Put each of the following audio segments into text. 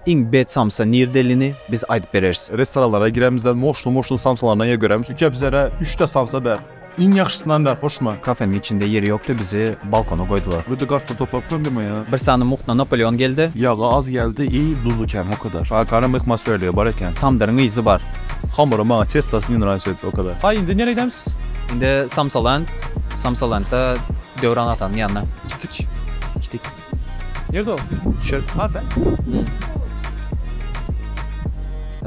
Iň bet samsa nirdelini biz aýdyp bereris. Restoranlara giremizde moşly moşly samsalaryndan ýer göremiz. Süke bizere üç de samsa ber. Iň ýagşysyndan ber hoşuma. Kafeniň içinde ýeri ýokdy bizi balkona goýdular. Öde garsa toplap gömdüme ýa. Bir sany muhna Napoleon geldi. Ýagy az geldi i duzy kän hokadar. Akara myhma söýligi bar eken. Tamdyryň yzy bar. Hamyry maňa testasyn nraýs etdi okadar. Aý indi nere gidämis? Indi samsaland. Samsalentde Döwran atanyň ýanyna gitdik. Gitdik. Nirde o? Şu. Harda?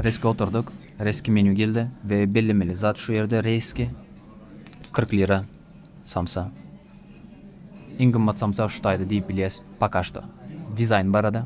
Reske oturdyk. Reski menü geldi we bellemeli zat şu ýerde reski 40 lira samsa. Iň gymmat samsa şu taýda diýip bilýäs poka şto. Dizaýn barada.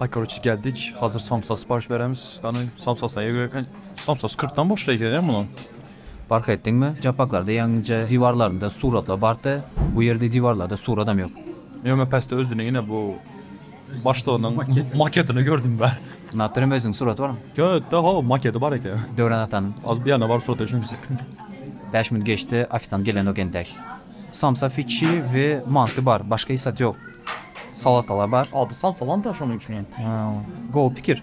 Aý karoçe geldik hazir samsa syparyş beremiz gany samsasy näge gerek eken samsasy kyrk dan başlar eken ä munuň. Parh etdiňmi? Japbaklarda ýeňňije diwarlarynda suratlar bardy, bu ýerde diwarlarda suradam ýok. Ýok men pesde özüniň ine bu başlygynyň maketini gördüm bäh. Natrem özüniň suraty barmy? Ýok da ho maketi bar eken. Döwran atanyň. Az bir ýerinde bar surat eşimiz. Bäş minut geçdi ofisant gelenok entek. Samsa fiçi we manty bar başga hiç zat yok. Salatalar bar. Ady samsalam da şonuň üçin hem. Hä gowy pikir.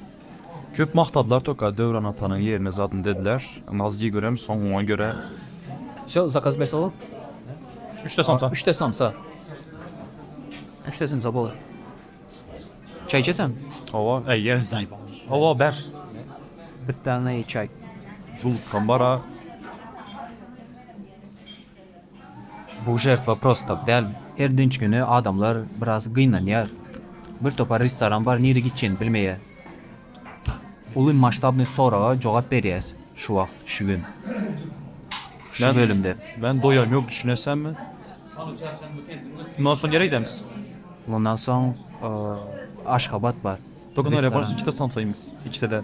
Köp magtadylar toka Döwran atanyň ýerine zadyny dediler. Nazli görem soňuňa göre. Şo zakaz berse bolar. Üçte samsa. Üçte samsa. Üçte samsa bolar. Çaý içeseňmi? Hawa eýe zaý bar. Hawa ber. Birtane çaý. Julukam bara. Bu žertwa prosta tak däl. Her dynç güni adamlar biraz gynanýar. Bir topar restoran bar nirä gitjegini bilmeýär. Uly masştabnyý soraga jogap berýäs şu wagt, şu gün. Şu bölümde. Men doýam ýok düşünesenmi. Mundan soň nirä gidämiz? Mundan soň Aşgabat bar. Doganlar ýa barsa iki de samsaýmyz. Iki de däl.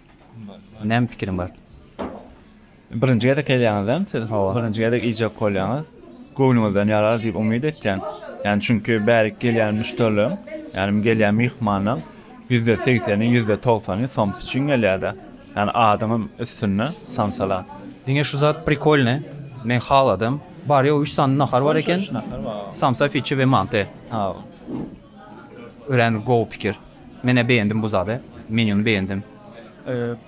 Näme pikiriň bar? Birinji gezek gelýäňizem siz? Hawa. Birinji gezek iýjek bolýaňyz. Göwnüňizden ýarar diýip umyt etýän. Ýani çünki bärik gelýän müşderileriň, ýani gelýän myhmanlaň ýüzde segseni, ýüzde togsany soms üçin gelýärda. Ýani adyňam üstünde samsala. Diňe şu zat prikolny. Men haladym. Bar ýogy üç sany nahar bar eken. Samsa, fiçi we manty. Hawa. Örän gowy pikir. Menä beýendim bu zady. Menýuny beýendim.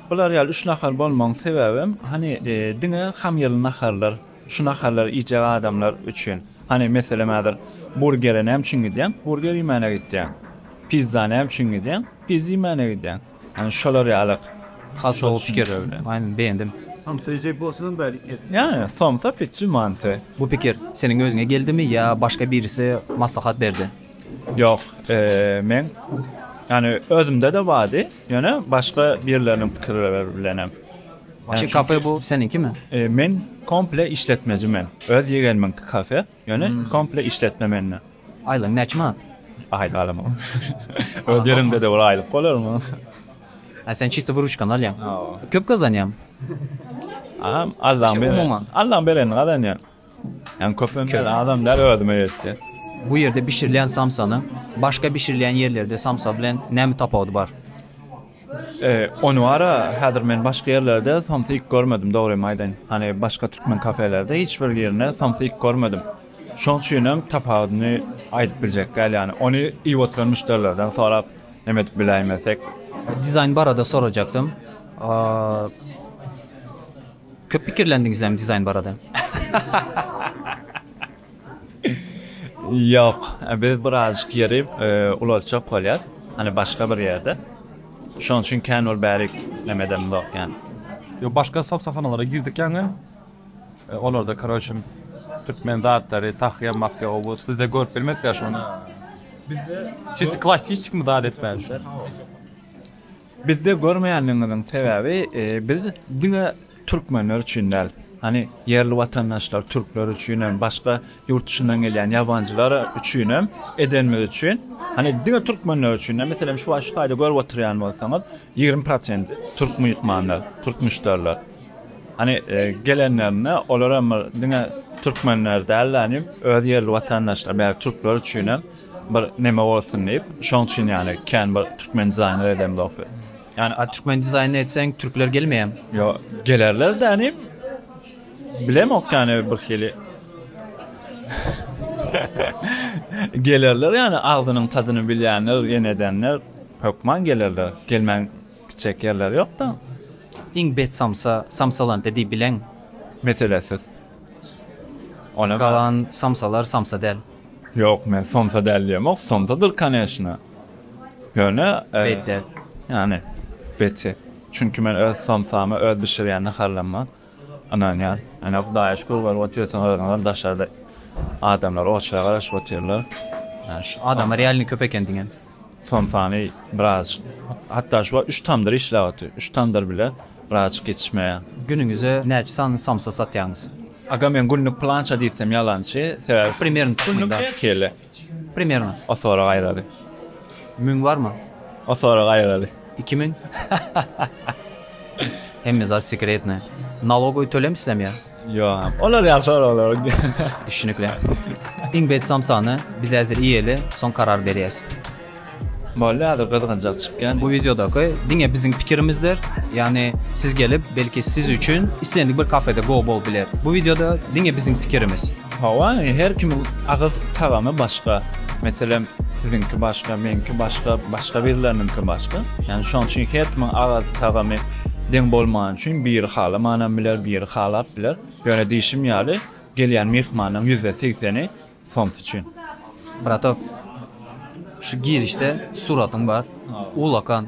Bular ýaly üç nahar bolmagyň sebäbem, hany, diňe hamyrly naharlar, şu naharlary iýjek adamlar üçin. Hany, meselem, häzir burgere näme üçin gidýäň? Burger iýmäne gidýäň. Pizza näme üçin gidýäň? Pizza iýmäne gidýäň. Hany, şolar ýaly has gowy pikirler bilen. Aýna, beýendim. Somsa iýjek bolsaňam bäri iýer. Ýa-ýa, somsa, pitji, manty. Bu pikir seniň özüňe geldimi ýa başga birisi maslahat berdi? Ýok, meň ýany özümde-de bardy, ýöne başga birleriniň pikirleri bilenem. Şu kafe bu seniňkimi? Men komple işletmeji men. Öz ýegenimiňki kafe, ýöne komple işletme mende. Aýlygyň näçe manat? Aýlyk alamok. Öz ýeriňde-de bir aýlyk bolarmy? Hä sen çisto wyruçkany alýaň. Köp gazanýaňmy? Allaň berenini gazanýan. Hem köp hem az adam däl özüme ýetjek. Bu ýerde bişirilýän samsanyň başga bişirilýän ýerlerde samsa bilen näme tapawudy bar? Ony bara häzir men başga ýerlerde samsy iýip görmedim dogrymy aýdaýyn. Hany başga türkmen kafelerde hiç bir ýerinde samsy iýip görmedim. Şoň üçin hem tapawudyny aýdyp biljek däl ýany. Ony iýip oturan müşderilerden sorap neme edip biläýmesek. Dizaýn barada sorajakdym. Köp pikirlendiňizlämi dizaýn barada? Ýok, biz birazjyk ýeri ulaltjak bolýas, hany başga bir ýerde. Şonuň üçin kän ol bärik näme edenimzok ýani. Ýok, başga sowsahanalara girdik ýaňy. Olarda karoçe türkmen zatlary, tahýa, mahýa o bu. Sizde görüp bilmedik ýaş ony. Bizde çisto klassikmi zat etmäli şu. Bizde görmeýänligiňiziň sebäbi biz diňe türkmenler üçin däl, hany ýerli watandaşlar türkler üçin hem başga ýurt duşyndan gelýän ýabanjylar üçin hem edenimiz üçin hany diňe türkmenler üçin däl meselem şu wagt şu taýda görüp oturýan bolsaňyz ýigrimi prosent türk myhmanlar türk müşderiler hany gelenlerinde olar hem bir diňe türkmenler däl hany öz ýerli watandaşlar bäri türkler üçin hem bir neme bolsun diýip şoň üçin ýaly kän bir türkmen dizaýner edemzok biz. Ýani a türkmen dizaýny etseň türkler gelmeýämi? Ýo gelerler de ýani bilemok ýani bir hili gelerler ýani agzynyň tadyny bilýänler ýene edenler hökman gelerler gelmän gitjek ýerleri ýok da. Iň bet samsa samsalandy diýip bileň. Meselesiz. Ony galan samsalar samsa däl. Ýok men somsa däl diýemok somsadyr koneçna ýöne bet däl ýany beti çünki men öz somsamy öz bişirýän naharlaryma ynanýan ýöne hudaýa şükür görüp otyrsyn özüňem daşarda adamlar oçlara garaşyp otyrlar ýa şu adamlar ýalyny köp eken diňe. Somsany birazjyk, hatda şu wagt üç tamdyr işläp otyr. Üç tamdyr bile birazjyk ýetişmeýär. Günüňize näçe sany somsa satýaňyz? Agam men günlük pylança diýsem ýalançy, sebäbi Primernä günlük näçe kelle? Primernä. O sorag aýraly. Müň barmy? O sorag aýraly. Iki müň? Hemme zat sekretnaý. Nalogowy tölemisizem ýa? Ýok, olar ýagşy soraglar. Düşünikli. Iň bet samsany biz häzir iýeli, soň karar berýäs. Boldy, häzir gyzgynjak çykýan. Bu wideodaky diňe biziň pikirimizdir. Ýagny siz gelip, belki siz üçin islendik bir kafede gowy bolup biler. Bu wideoda diňe biziň pikirimiz. Hawa, her kimiň agyz tagamy başga. Meselem, siziňki başga, meňki başga, başga birleriniňki başga. Ýagny şonuň üçin her kimiň agyz tagamy deň bolmany üçin biri halamanam biler, biri halap biler. Ýöne diýşim ýaly, gelýän myhmanyň ýüzde segseni soms üçin. Bratok, şu girişde suratyň bar, ulakan.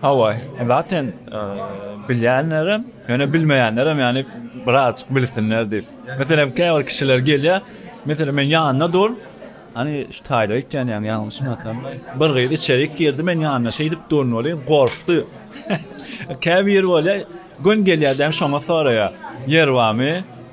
Hawa, zaten bilýänlerem, ýöne bilmeýänlerem ýagny birazjyk bilsinler diýip. Meselem, käbir kişiler gelýär, meselem, meniň ýanymda dur, Hany şu taýda öýtýän ýaňy ýalňyşym ýa-da bir gyz içerik girdi, meniň ýanymda şeýdip durun welin gorkdy. Käbir bolýar, göni gelýär-de hem şoňa soraýar, Ýer barmy?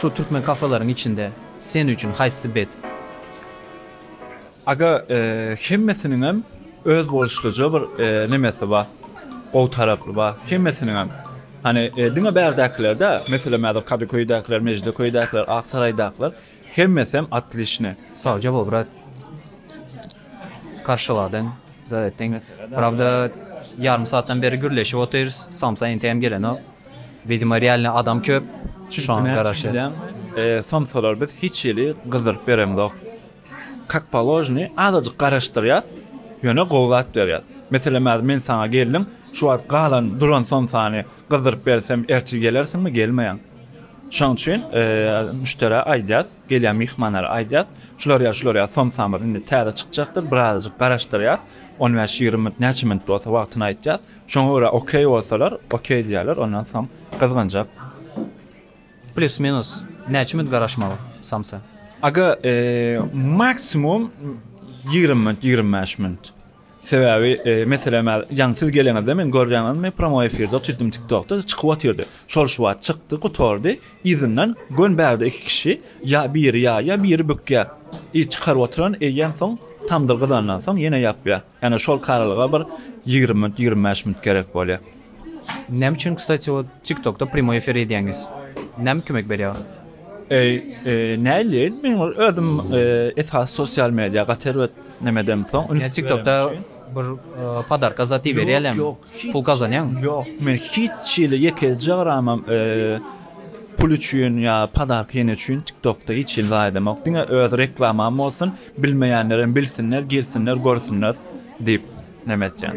Şu türkmen kafelaryň içinde sen üçin haýsysy bet? Aga hemmesiniňem öz boluşlyja bir nemesi bar, gowy tarapy bar. Hemmesiniňem. Hany diňe bärdäkiler däl, meselem häzir Kadyköýdäkiler, Mejideköydakiler, Aksaraýdakylar. Hemmesem otlişne. Sawjabo brat karşyladyň zat etdiň prawda ýarym saatdan beri gürleşip otyrys samsa entegem gelenok widimo realny adam köp şoňa garaşýas. Samsalar biz hiç hili gyzdyryp beremzok kak položnyý azajyk garaşdyrýas ýöne gowy zat berýas meselem hazir men saňa geldim şu wagt galan duran samsany gyzdyryp bersem ertir gelersiňmi gelmeýäň Şonuň üçin müşderä aýdýas, gelýän myhmanlara aýdýas, şular ýa şular ýa somsamyz indi täze çykjakdyr, birazajyk garaşdyrýas, on bäş, ýigrimi minut, näçe minut bolsa wagtyny aýtýas, şoňa görä okeý bolsalar, okeý diýýärler, ondan soň gyzgynjak. Plyus-minus näçe minut garaşmaly samsa? Aga, maksimum ýigrimi minut, ýigrimi bäş minut. Sebäbi meselem ýaňy siz geleňizde men görýäňizmi promoý efirde otyrdim tik tokda çykyp otyrdy şol şu wagt çykdy gutardy yzyndan gön bärde iki kişi ýa biri ýaýýa biri bükýä i çykaryp otyran eýýäm soň tamdyr gyzandan soň ýene ýapýa ýane şol karalyga bir ýigrimi minut ýigrimi bäş minut gerek bolýa. Näme üçin kstati ol tiktokda primoý efir edýäňiz? Näme kömek berýär? Eý näli men ol özüm esasy sosial media gaty erbet näme edem soň ins tiktokda bir podarka zady berýälem pul gazanýaňmy? Ýok men hiç hili ýekeje gramam pul üçin ýa podarka ýene üçin tiktokda hiç hili zat edemok diňe öz reklamam bolsun bilmeýänlerem bilsinler girsinler görsünler diýip näme etýän.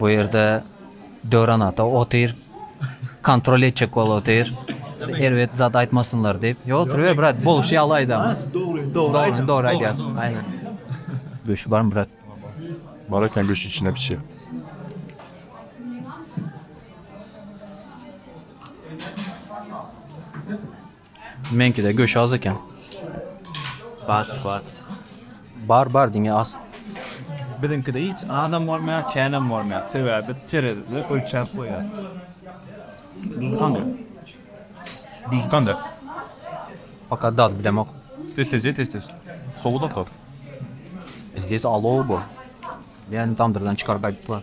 Bu ýerde Döran ata otyr. Kontrol etjek bol otyr. Erbet zat aýtmasynlar diýip. Ýo otyr ber brat, bolşy ýaly aýdam. Dogry, dogry aýdam. Dogry aýdýas. Aýna. Göşi bar brat. Bar eken göşi içine piçe. Meňkide göş az eken. Bat bat. Bar bar diňe az. Biziňkide hiç azam bolmaýar känäm bolmaýar sebäbi biz terezide ölçäp goýýas. Duzy kандай? Duzy kanda? Poka dady bilemok. Tez tez ye tez tez. Sowuda kal. Bizde ise alow bu. Yani tamdyrdan çykaryp aýdyplar.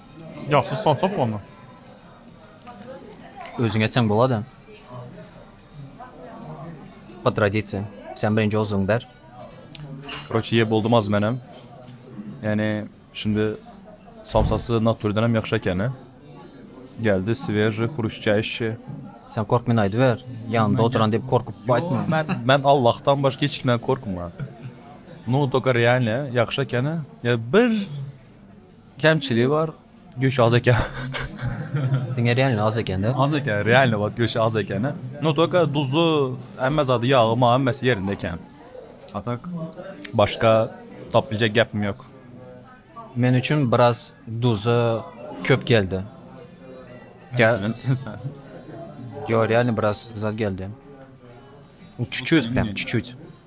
Ýok, siz somsak bolma. Özüň etseň bolada. Pod tradisiýa. Sen birinji ozuň ber. Korotşe ýe boldum az menem. Ýani şindi samsasy naturdan hem ýagşy ekeni. Geldi sveji hruşçaýşi. Sen korkmen aýdyber. Ýanynda oturan diýip korkup aýtma. Men men Allahdan başga hiç kimden korkman. Nu doka realne ýagşy ekeni. Ýa bir Kemçiligi bar. Göşi az eken. Diňe realny az ekende. Az eken, realny bak göşi az ekeni. No toka duzu, emme zady yağı ma emmesi yerinde eken. Atak başka tap bilecek gapim yok. Men üçin biraz duzu köp geldi. Gel. Yo realny biraz zad geldi. Çuçut bilen, çuçut.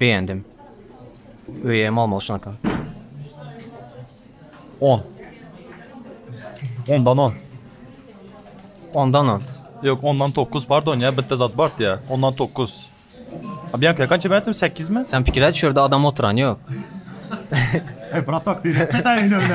Beýendim. Öýem bolmaly şonka. On. Ondan on. Ondan on. Yok ondan dokuz pardon ya bitti zat bart ya. Ondan dokuz. Abi yanka kaç ben ettim sekiz mi? Sen fikir et şurada adam oturan yok. Bratak değil. Detayını öyle.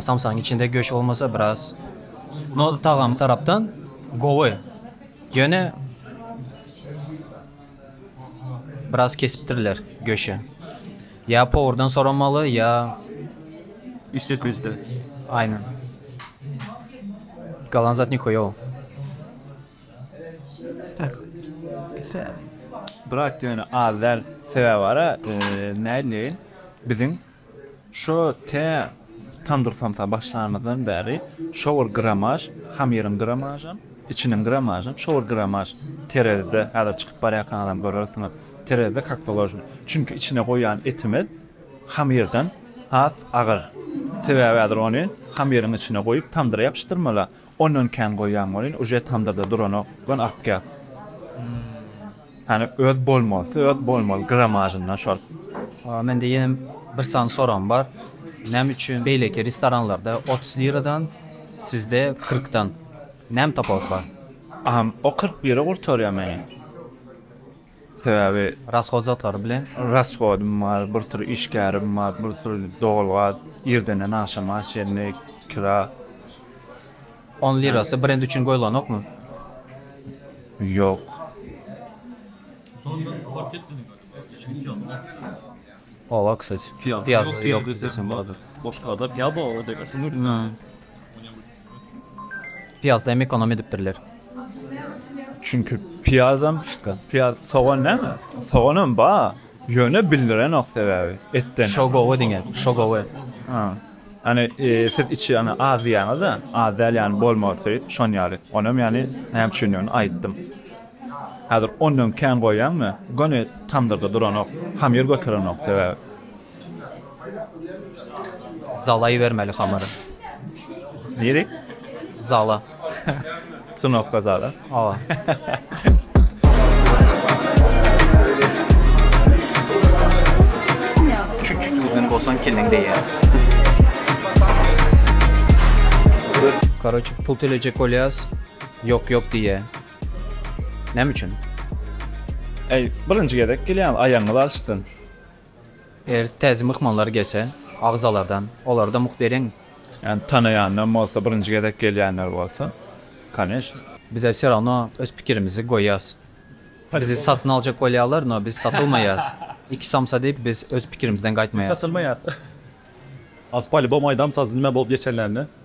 Samsaň içinde göç bolmasa biraz no tagamy tarapdan gowy ýöne biraz kesipdirler göşi ýa powurdan soramaly ýa işletmejiden aýna galan zat nihuýow. Brat ýöne az däl sebäbi bara nädip bileýin biziň Şu tä tandyr samsa başlanymyzdan bäri şo bir gramaž, hamyryň gramažam, içiniň gramažam şo bir gramaž terezide, häzir çykyp barýarkaňyzam görersiňiz, terezide kak položno. Çünki içine goýýan etimiz hamyrdan has agyr. Sebäbi häzir ony hamyryň içine goýup tandyra ýapyşdyrmaly. Ondan kän goýýan bolyn uje tamdyrda duranok gon akýa hany öz bolmalysy öz bolmaly gramajyndan şol. Mende ýene bir sany soram bar näme üçin beýleki restoranlarda otuz liradan sizde kyrkdan näme tapawut bar. Aham o kyrk bire gurtarýa meni. Sebäbi Rasgod zatlary bilen. Rasgodym bar, bir syr işgärim bar, bir syr dogulgaz, irdenden agşama çenli kira. On lirasy brend üçin goýlanokmy? Ýok. Oba kysaj piýaz ýok desem boladyr. Boşkada piýaz oba degersiň özi. Piýazda hem ekonom edipdirler. Çünki piýazam şka piýaz sogan näme? Soganam ba ýöne bildirenok sebäbi etden. Şo gowy diňe şo gowy. Ha. Ýani siz içi ýani az diýýäňiz-de az däl ýani bolmagy söýüp şon ýaly. Onam ýani näme üçindigini aýtdym. Häzir ondan kän goýýaňmy? Göni tamdyrda duranok, hamyr göterenok, sebäbi. Zala ibermeli hamyry. Nirä? Zala. Trnowka zala? Hawa. Çüt-çüt uzyn bolsaň kelleň deýär. Karoçe pul töläjek bolýas, ýok-ýok diýýä. Näme üçin? Eý, birinji gezek gelýäňiz, aýagyňyz alşsyn. Eger täze myhmanlar gelse, agzalardan, olara da mugt beriň. Ýani tanaýandan bolsa, birinji gezek gelýänler bolsa, koneçno. Bize wse rawno, öz pikirimizi goýýas. Bizi satyn aljak bolýarlar, no biz satylmaýas. Iki samsa diýip, biz öz pikirimizden gaýtmaýas. Satylmaýas. Az polibom aýdam sazy nime bolup geçenlerini